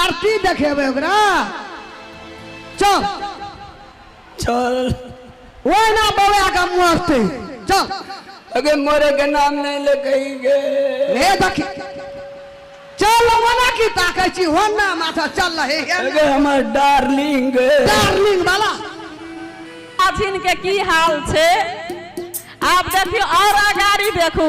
आरती देखेबै ओकरा चल चल ओहिना बौआ के मरते चल अगे मोरे के नाम नहीं ले कही गे हे देखी चल मना की ताकै छी होना माथा चल रहे अगे हमर डार्लिंग गे डार्लिंग वाला अथिन के की हाल छै आब देखियो और अगाड़ी देखू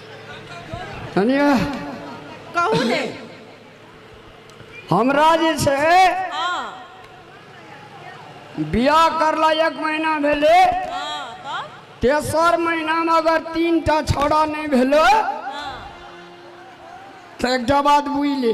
कनिया कहू ने हमरा जे छै हाँ बियाह करला एक महीना भेलै हाँ तब तेसर महीनामे अगर तीन टा छौड़ा नहि भेलै हाँ तऽ एकटा बात बुझि ले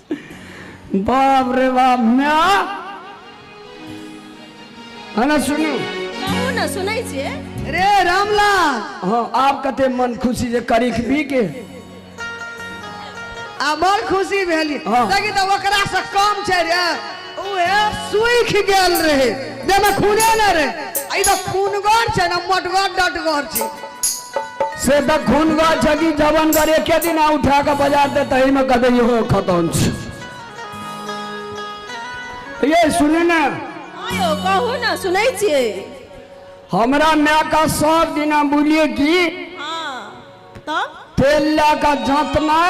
बाप रे बाप माय हना सुनू कहू ने सुनै छियै रे रामलाल हाँ आप कते मन खुशी जे करी भी के आ बड़ खुशी भेली हाँ। देखी तऽ ओकरा से कम छै रे ओहे सुख गेल रहे जेमे खूने न रहे आई तो खूनगर छे ना मोटगर डटगर छे से त खून गा छ कि जवन गर एके दिन आ उठा के बाजार दे तही में कदे यो खतम छ ये सुने ना आयो कहू ना सुनै छियै हमरा माय का सब दिना बोलिए कि हाँ तब तेल ला का जात में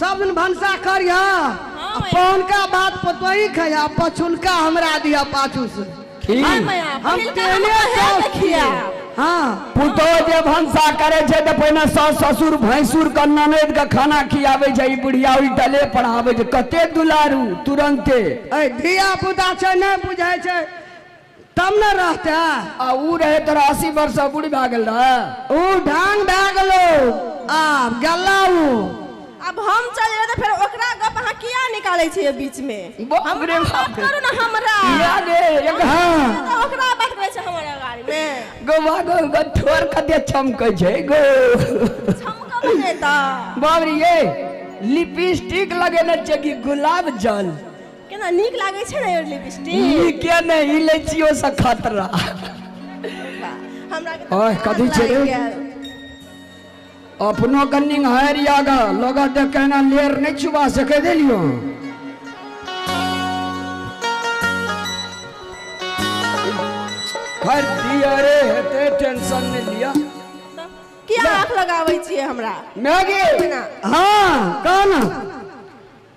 सब दिन भनसा करिहऽ आ हँ, पहुनका बात पतोही खइहऽ आ पछुलका हमरा दिहऽ पाछू से ठीक हँ, माया, हम पहिलका तेहने हमरा साउस हेबे छियै खियाब। हँ पुतोह जे भनसा करे छै तऽ पहिने सास ससुर भैंसुर के ननद के खाना खियाबे छै ई बुढ़िया उल्टले पर आबे छै कते दुलारू तुरंते ऐ धिया पुता छै नहि बुझै छै तब न रहते आ ऊ रहे तोरा अस्सी वर्ष से बूढ़ भए गेल रहे ऊ ढांग भए गेलो आब गल्ला ऊ अब हम चल जेबै तऽ फेर ओकरा गप अहाँ किया निकालै छियै बीच मे बाप हमरा रे बात बाप। करू ने हमरा या गे एक हाँ तऽ ओकरा बात करै छै हमरा गाड़ी मे गोवा गो गो ठोर कते चमकै छै गो छमका बने तऽ बाबरी ये लिपस्टिक लगेने छै कि गुलाब जल केना नीक लागै छै ने लिपस्टिक नीके ने ई लै छियो से खतरा हमरा ओह कथी छै रे अपनो कन्नी हर याग लोग देख के ना लेर नहीं छुबा सके देलियो हर दिया रे हेते टेंशन नहीं लिया किया आंख लगाबै छियै हमरा मैगी हां कौन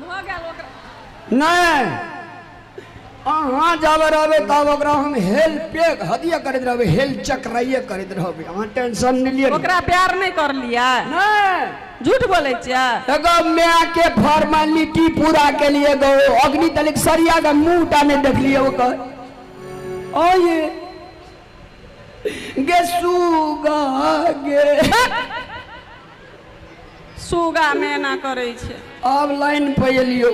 भऽ गेल ओकरा नहि अहाँ जाबे रहबै तब ओकरा हम हेल पे हदिया करैत रहबै हेल चक्राइए करैत रहबै अहाँ टेंशन नहि लिअ ओकरा प्यार नहि करलियै नहि झूठ बोलै छियै एगो माय के फॉर्मेलिटी पूरा के लिए एगो अग्नि तलिक सरिया के मुंह टा नहि देखलिए ओकर ओ ये गे सुगा गे सुगा मेना करै छै आब लाइन पर एलियौ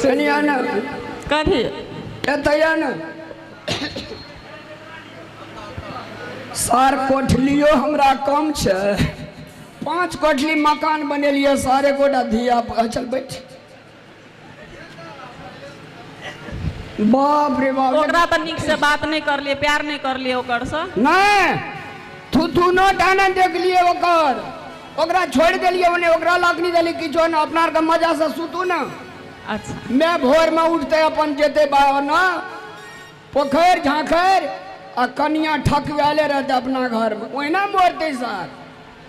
कनी आ ने कथी एतै आ ने सार कोठलियो हमरा कम छै पाँच कोठली मकान बनेलियै सारे गोटा धिया पुता चल बैठ बाप रे बाप ओकरा तऽ नीक से बात नहि करलियै प्यार नहि करलियै ओकर से नहि थुथुनो टाना देखलियै ओकर ओकरा छोड़ि देलियै ओने ओकरा लकनी देली किछो ने अपना आरके मजा से सुतू ने अच्छा मैं भोर में उठते अपन जेते बावना पोखर झांखर आ कनिया ठकवाले रहते अपना घर में ओहिना मरते सर